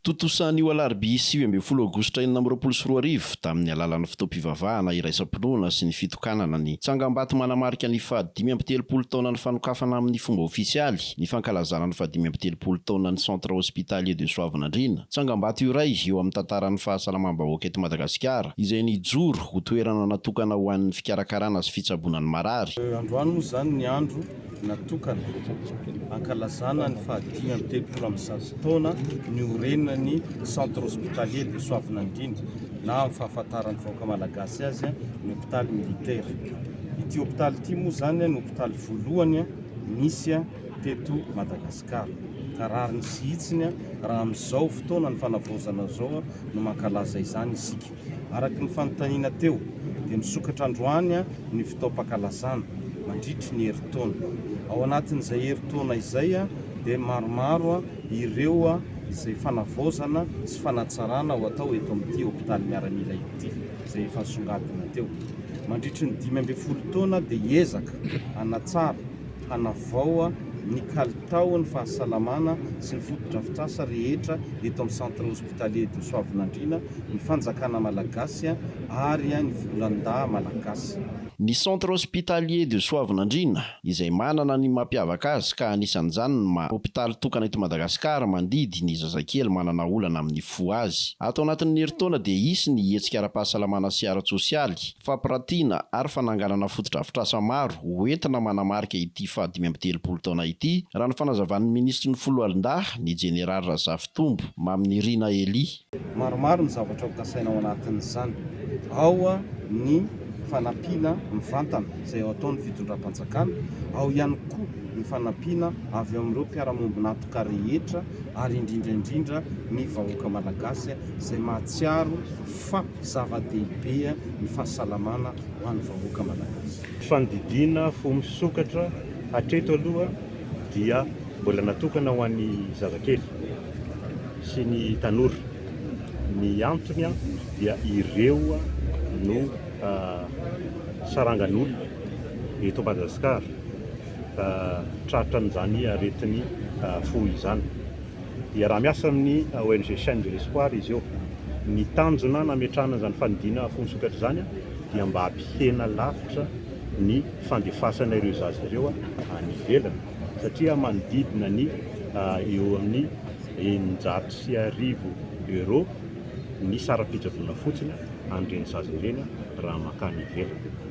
Tontosa anio alarobia sivy ambin'ny folo aogositra enina amby roapolo sy roa arivo, tamin'ny alalan'ny fotoam-pivavahana iraisam-pinoana sy ny fitokanana ny tsangambato manamarika ny fahadimy amby telopolo taonan'ny fanokafana amin'ny fomba ofisialy ny fankalazana ny fahadimy amby telopolo taonan'ny Centre Hospitalier de Soavinandriana, tsangambato iray eo amin'ny tantaran'ny fahasalamam-bahoaka eto Madagasikara izay nijoro ho toerana natokana ho an'ny fikarakarana sy fitsaboana ny marary. Androany moa izany ny andro natokana hankalazana ny fahadimy amby telopolo amby zato taona niorenan'ny Centre Hospitalier de Soavinandriana na amin'ny fahafantaran'ny vahoaka malagasy azy ny hopitaly militaire. Ity hopitaly ity moa izany no hopitaly voalohany nisy teto Madagasikara ka rariny sy hitsiny raha amin'izao fotoana ny fanavaozana izao no mankalaza izany isika. Araka ny fanontaniana teo dia misokatra androany ny fotoam-pankalazana mandritry ny herintaona. Ao anatin'izay herintaona izay dia maromaro ireo izay fanavaozana sy fanatsarana ho atao eto amin'ity hopitaly miaramila ity izay efa nisongadina teo. Mandritry ny dimy ambin'ny folo taona dia hiezaka hanatsara, hanavao ny kalitaon'ny fahasalamana sy ny fotodrafitrasa rehetra eto amin'ny Centre Hospitalier. Tale de Soavinandriana, ny fanjakana malagasy ary ny volandahy malagasy. Ny Centre Hospitalier de Soavinandriana, izay manana ny mampiavaka azy ka anisan'izany ny maha hopitaly tokana eto Madagasikara mandidy ny zazakely manana olana amin'ny fo azy. Ato anatin'ny herintaona dia hisy ny hetsika ara-pahasalamana sy ara-tsosialy, Fampirantiana ary fananganana fotodrafitrasa maro ho entina manamarika ity fahadimy amby telopolo taona ity, raha ny fanazavan'ny minisitry ny Foloalindahy, ny jeneraly Razafitombo Maminirina Elie. Maromaro ny zavatra ho kasaina ao anatin'izany. Ao ny fanampiana mivantana izay ho ataon'ny fitondram-panjakana, ao ihany koa ny fanampiana avy amin'ireo mpiara-miombon'antoka rehetra ary indrindra indrindra ny vahoaka malagasy izay mahatsiaro fa. Zava-dehibe ny fahasalamana ho an'ny vahoaka Malagasy. Fandidiana fo misokatra hatreto aloha dia mbola natokana ho an'ny zazakely sy ny tanora. Ny antony dia ireo no sarangan'olona eto Madagasikara tratra an'izany aretin'ny fo izany. Hiaraha-miasa amin'ny ONG Chaîne de l'Espoir izy eo. Ny tanjona nametrahana izany fanidiana afoan-tsokatra izany dia mba hampihena lavitra ny fandefasana ireo zaza ireo any ivelany satria manodidina ny eo amin'ny eninjato sy arivo Euro ny saram-pitsaboana fotsiny an'ireny zaza ireny raha mankany ivelany.